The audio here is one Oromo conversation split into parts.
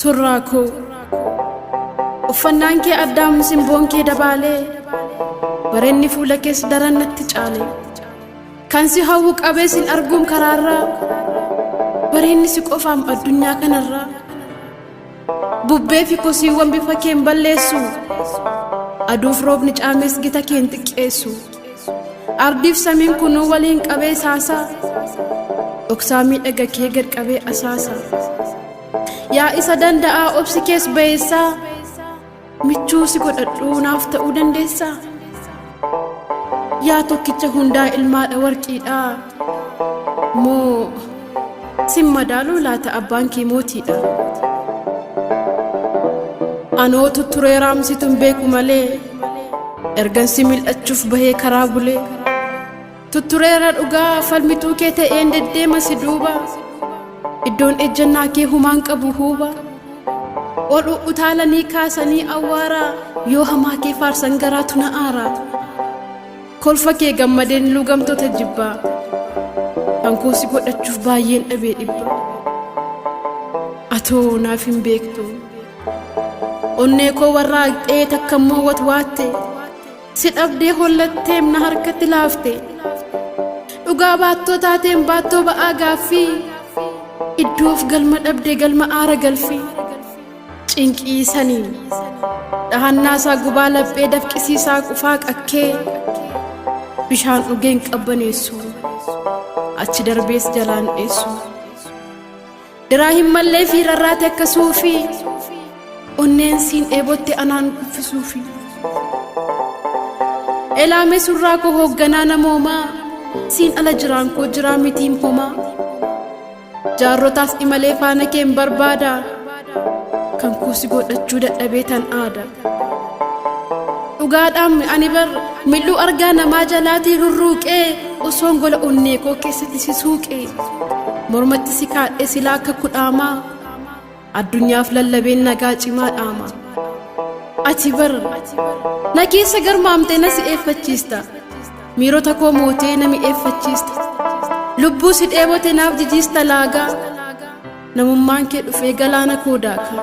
Surraa koo uffannaan kee addaam simboon kee dabaalee barenni fuula kees daran natti caale kan si hawwu qabee sin arguun karaarraa bareenni si qofaam addunyaa kanarraa bubbee fi kosiiwwan bifa keen balleessu aduuf roobni caamees gita keen xiqqeessu. Ardiif samiin kunuu waliin qabee saasaa Dhoksaa miidhaga kee gad qabee asaasa Yaa isa danda'aa obsi kees bayeessaa Michuu si godhadhuu naaf ta'uu dandeessaa Yaa tokkicha hundaa ilmaadha warqiidhaa Moo Sin madaaluu laata abbaan kee mootiidha. Anoo tutturee raamsituun beeku malee ergan si mil'achuuf bahee karaa bulee. Tuttureera dhugaa falmituu kee ta'een deddeema si duuba. Iddoon ejjannaa kee humaan qabu huuba. Ol utaalanii kaasanii awwaara yoo hamaa kee faarsan garaatu na aara. Kolfa kee gammadeen luugamtoota jibbaa kan koo si godhachuuf baay'een dhabee dhibba atoo naaf hin beektu onnee koo warra haqxee takka immoo watwaatte si dhabdee hollatteem na harkatti laafte dhugaa baattoo taateen baattoo ba'aa gaaffii iddoof galma dhabde galma aara galfii. cinqii saniin dhahannaa isaa gubaa laphee dafqisii isaa qufaa qakkee bishaan dhugeen qabbaneessu achi darbees jalaan dheessu diraa hin mallee fi rarraate akka suufi onneen siin dheebotte anaan kuffisuufi elaame surraa koo hoogganaa namoomaa siin ala jiraan koo jiraa mitiin homaa Jaarrotaas imalee faana keen barbaada kan kuusi godhachuu dadhabee tan aada. Dhugaadhaan ani bar mil'uu argaa namaa jalaatii rurruuqee osoon gola onnee koo keessatti si suuqee mormatti si kaadhee silaa akka kudhaamaa. Addunyaaf lallabeen nagaa cimaa dhaama. Ati bar na keessa garmaamtee na si'eeffachiista. Miirota koo mootee na mi'eeffachiista. Lubbuu si dheebote naaf jijiista laagaa. Namummaan kee dhufee galaana koo daaka.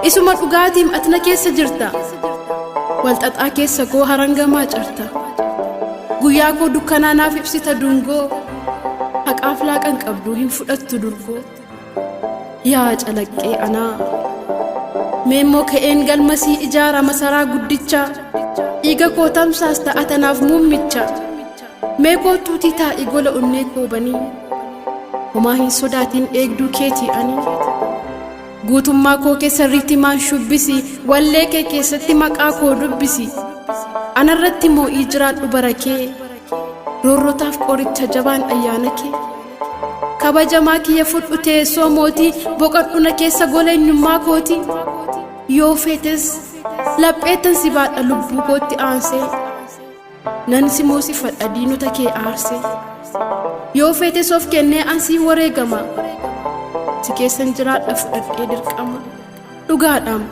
Isuma dhugaatiim ati na keessa jirta. Walxaxaa keessa koo harangamaa carta. Guyyaa koo dukkanaa naaf ibsita dungoo. Haqaaf laaqan qabduu hin fudhattu durgoo. Yaa calaqqee anaa meemmoo ka'een galmasii ijaara masaraa guddicha dhiiga koo tamsaasta atanaaf muummicha mee kootuutii taa'i gola onnee koobanii homaa hin sodaatiin eegduu keetii ani guutummaa koo keessa riitimaan shubbisi wallee kee keessatti maqaa koo dubbisi anarratti moo'ii jiraadhu bara kee roorrotaaf qoricha jabaan ayyaana kee. kabajamaa kiyya fudhu teessoo mootii boqadhu na keessa gola eenyummaa kooti yoo feetes lapheettan si baadha lubbuu kootti aansee nan si moosifadha diinota kee aarsee yoo feetes of kennee ansii wareegama si keessan jiraadha fudhadhee dirqama dhugaadhaam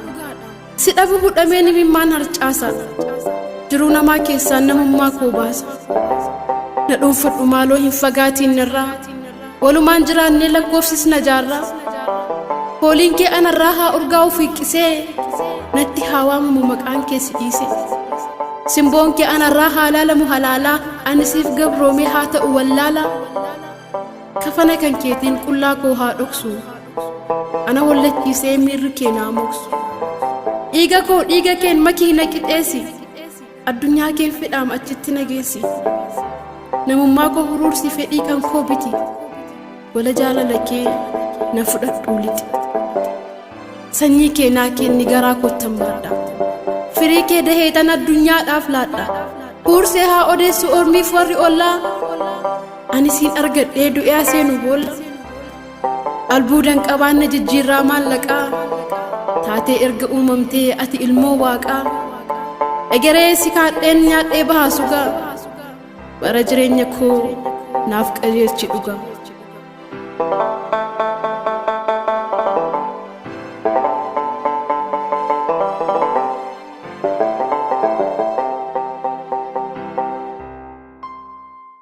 Si dhabu hudhameen imimmaan harcaasa. Jiruu namaa keessaan namummaa koo baasa. Na dhuunfadhu maaloo hin fagaatiin narraa. Walumaan jiraannee lakkoofsis na jaarraa. Fooliin kee anarraa haa urgaa'u fiiqqisee. Natti haa waamamu maqaan kee si dhiise. Simboon kee anarraa haa laalamu halaalaa. Ani siif gabroomee haa ta'u wallaalaa. Kafana kan keetiin qullaa koo haa dhoksu ana wallachiisee miirri kee naa moksu dhiiga koo dhiiga keen makii na qixeessi addunyaa keen fedhaam achitti na geessi namummaa koo huruursi fedhii kan koo biti wala jaalala kee na fudhadhuu lixi sanyii kee naa keenni garaa koottan baadha firii kee daheetan addunyaadhaaf laadha huursee haa odeessu ormiif warri ollaa Ani siin argadhee du'ee seenu boolla albuudan qabaanna jijjiirraa maallaqaa taatee erga uumamtee ati ilmoo waaqaa egeree si kaadheen nyaadhee bahaa sugaa bara jireenya koo naaf qajeelchi dhuga.